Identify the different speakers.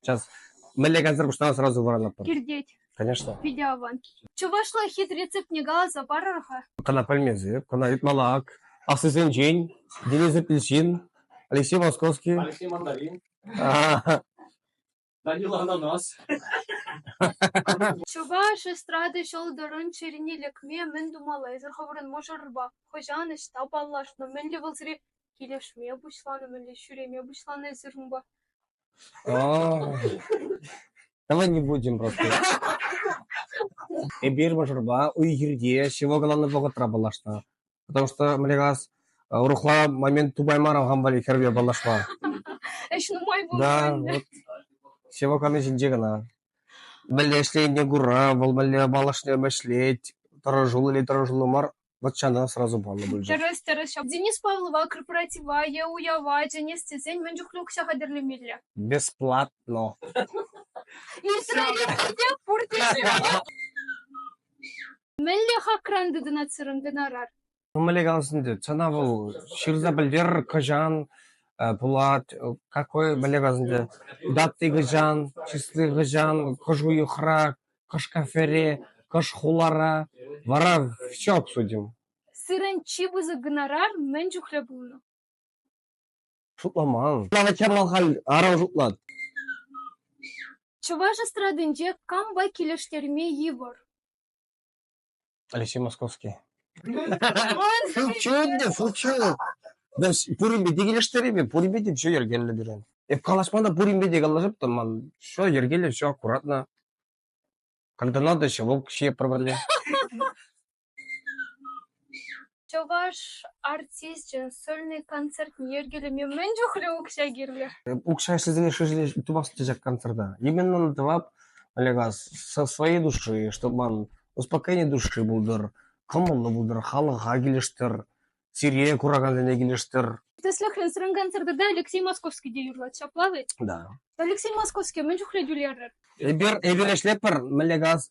Speaker 1: Сейчас мӗнле концерт пуҫланас сразу вӑранатпӑр. Киртет. Конечно.
Speaker 2: Питӗ аван. Чӑвашла хит рецептне каласа парӑр-ха. Кӑна пӗлмесӗр,
Speaker 1: кӑна Итмалак, аслисенчен Денис Ильчин, Алексей Московский. Алексей Мандарин.
Speaker 3: Данила Ананас.
Speaker 2: Чӑваш эстрада ҫӑлтӑрӑн чӗрине лекме мӗн тумаллисӗр хӑвӑрӑн мӑшӑрпа хӑҫан ӑҫта паллашнӑ, мӗнле вӑлсри килӗшме пуҫланӑ, мӗнле ҫӳреме пуҫланӑ эсир унпа?
Speaker 1: Давай не будем просто. Эпир мӑшӑрпа уй-хирте ҫывӑх кӑларнӑ вӑхӑтра паллашнӑ. Потому что, мне кажется, урӑхла момент тупаймарӑм хам валли хӗрпе паллашма. Ӗҫ
Speaker 2: нумай пулнӑ Да, ӗнтӗ. вот
Speaker 1: ҫывӑх калани ҫинче кӑна. Мӗнле ӗҫленине кура, вӑл мӗнле малашне ӗҫлет, тӑрӑшуллӑ или тӑрӑшуллӑ мар, Вӑт ҫана сразу паллӑ пулчӗ. Тӗрӗс, тӗрӗс. Ҫав Денис
Speaker 2: Павлова корпоратива е уява чӗнес тесен мӗн чухлӗ укҫа хатӗрлемелле? Бесплатно. Ирттерене
Speaker 1: те
Speaker 2: пурте Мӗнле хакран тытӑнатсӑрӑн гонорар? Мӗнле каласынде,
Speaker 1: сана вӑл ҫырса пӗлтер кӑҫан пулать, какой мӗнле каласынде, даты кӑҫан, числы кӑҫан, хӑшу йӑхра, Кӑшкӑрфӗре кӑш хулара, вара все обсудим. Сирӗн чи
Speaker 2: пысӑк гонорар мӗн чухлӗ пулнӑ? Шутламан.
Speaker 1: Чӑрмав халь аран шутлать.
Speaker 2: Чӑваш эстрадинче кампа килӗштерме йывӑр?
Speaker 1: Алексей Московский. Шучу шучу. Мен пуринпе те килӗштереймӗн, пуринпе те все йӗркеллӗ пирӗн. Эп калаҫма та пуринпе те калаҫаптӑм, ман все йӗркеллӗ, все аккуратно. Когда надо, еще в общее проблем.
Speaker 2: Чӑваш артисчӗн сольный концертне йӗркелеме мӗн чухлӗ укҫа кирлӗ? Укҫа ӗҫлесене
Speaker 1: шишӗле тупас тесек концерта. Именно надо тӑвап, Олега, со своей души, чтобы ман успокоение души булдыр, кӑмӑллӑ булдыр, халӑха килӗштӗр, сире куракансене килӗштӗр. Тӗслӗхренсӗрен
Speaker 2: концертта Алексей Московский те юрлать, ҫапла ведь? Да. Алексей
Speaker 1: Московский
Speaker 2: мӗн чухлӗ тӳлерӗр? Эпир, эпир
Speaker 1: ӗҫлетпӗр, мӗнле газ,